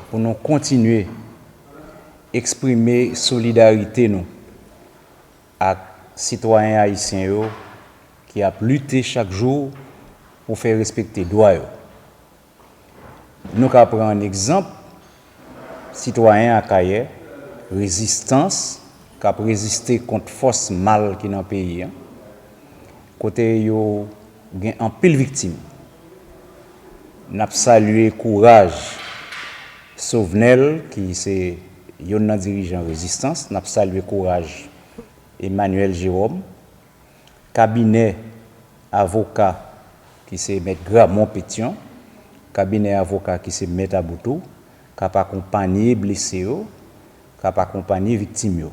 pou nou kontinye eksprime solidarite nou ak sitwayen ayisyen yo ki ap lite chak jou pou fè respekte dwa yo. Nou ka pran an egzanp sitwayen Akayè, rezistans k ap reziste kont fòs mal ki nan peyi an, kote yo gen anpil viktim. N ap salye kouraj Sovnèl ki se youn nan dirijan rezistans, n ap salye kouraj Emmanuel Jérôme, kabinè avoka ki se Mèt Gramon Pétion, kabinè avoka ki se Mèt Aboutou, k ap akonpanye blese yo, k ap akonpanye viktim yo.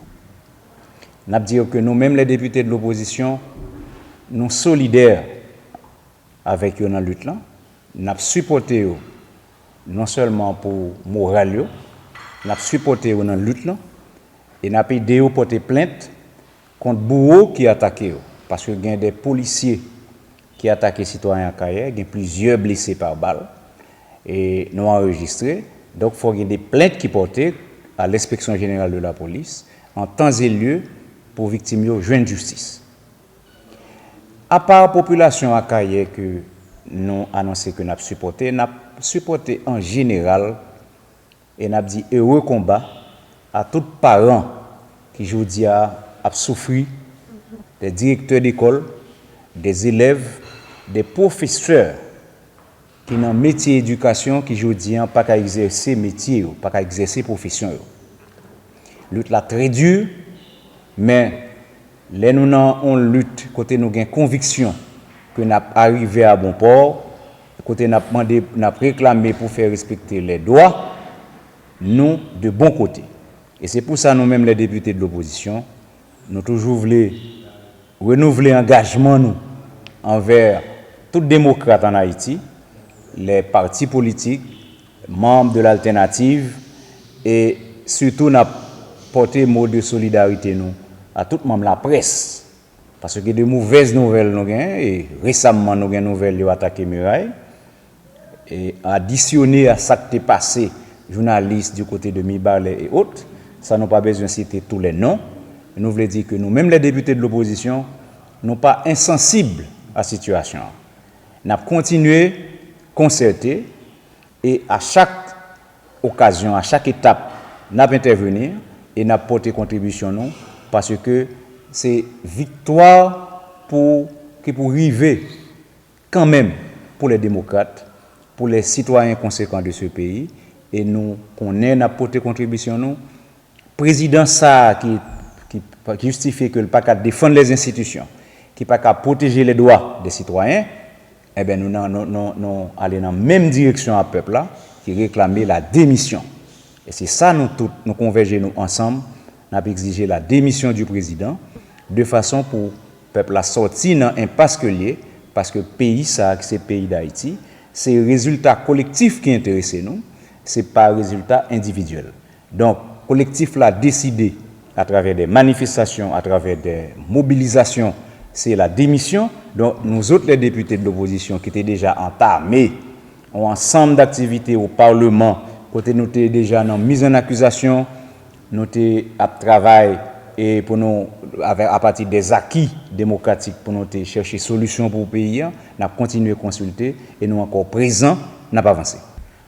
N ap di yo ke nou menm lè depite de lopozisyon, nou solidè avèk yo nan lit lan, nap sipòte yo non sèlman pou moral yo, nap sipòte yo nan lit lan e nap ede yo pòte plent kont bouwo ki atake yo, paske gen 2 polisye ki atake sitwayen Akayè, gen plizyè blese pa bal e nou anrejistre, donk fò gen 2 plent ki pòte a L'Inspection Générale de la Police an tan e lye pou viktim yo jwenn jistis. Apa popilasyon Akayè ke nou anonse ke nap sipòte, nap sipòte an jeneral e nap di ere konba a tout paran ki jodi a ap soufri, de direktè dekòl, de zelèv, de pwofesè ki nan metye edikasyon ki jodi an pa ka egzèse metye yo, pa ka egzèse pwofesyon yo. Lut la trè di, men lè nou nan on lut kote nou gen konviksyon ke n ap arive a bon pò, kote n ap mande, n ap reklame pou fè respekte lè dwa nou de bon kote. E se pou sa nou menm lè depite de lopozisyon, Nou toujou vle renouvle angajman nou anvè tout demokrat an Ayiti, lè pati politik, manb de l'altenativ e sitou nap pote mo de solidarite nou a tout manb laprès paske de movèz nouvèl nou gen e resamman nou gen nouvèl yo atake miray. Adisyone a sa k te pase jounalis di kote de Mibalè e ot, san nou pa bezwen site tou lè non, nou vle di ke nou menm lè depite de lopozisyon, nou pa ensansib a sitiyasyon an. N ap kontinye konsète e a chak okazyon, a chak etap, n ap entèveni e n ap pote kontribisyon nou paske se viktwa pou ki pou rive Kan menm, pou lè demokrat, pou lè sitwayen konsekan de se peyi, e nou konnen n ap pote kontribisyon nou, prezidan sa a ki jistifye ke l pa ka defann lè enstitisyon, ki pa ka pwoteje lè dwa de sitwayen, enben nou nan nou ale nan menm direksyon a pèp la ki reklame la demisyon. E se sa nou tout nou konvèje nou ansanm n ap ekzije la demisyon di prezidan de fason pou Pèp la sòti nan enpas ke l ye, paske peyi sa a ki se peyi Dayiti, se rezilta kolektif ki enterese nou, se pa rezilta endividyèl. Donk, kolektif la deside, atravè dè manifestasyon, atravè dè mobilizasyon, se la demisyon. Donk, nou zot lè depite de lopozisyon ki te deja antame on ansanm daktivite o Parleman, kote nou te deja nan miz an akizasyon, Nou te ap travay e pou nou avè apati de zaki demokratik pou nou te chèche solisyon pou peyi an, n ap kontinye konsilte e nou ankò prezan, n ap avanse.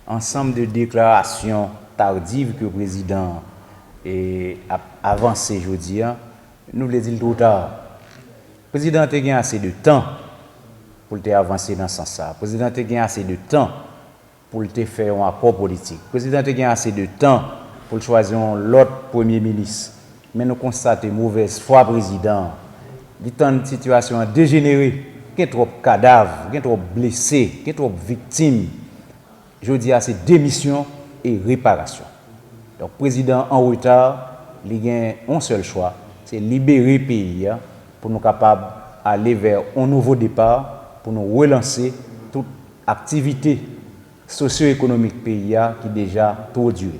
Ansanm de deklarasyon tardiv ke prezidan an e ap avanse jodi an, nou vle di l two ta. Prezidan an te gen ase de tan pou l te avanse nan sans sa a. Prezidan an te gen ase de tan. pou l te fè yon akò politik. Prezidan an te gen ase de tan pou l chwazi yon lòt premye minis. Men nou konstate movèz fwa prezidan an. Li tann sitiyasyon an dejenere. Gen twòp kadav, gen twòp blese, gen twòp viktim. Jodi a se demisyon e reparasyon. Donk prezidan an an reta, li gen yon sèl chwa, se libere peyi a pou nou kapab ale vè yon nouvo depa, pou nou relanse tout. Aktivite sosyo-ekonomik peyi a ki deja two dire.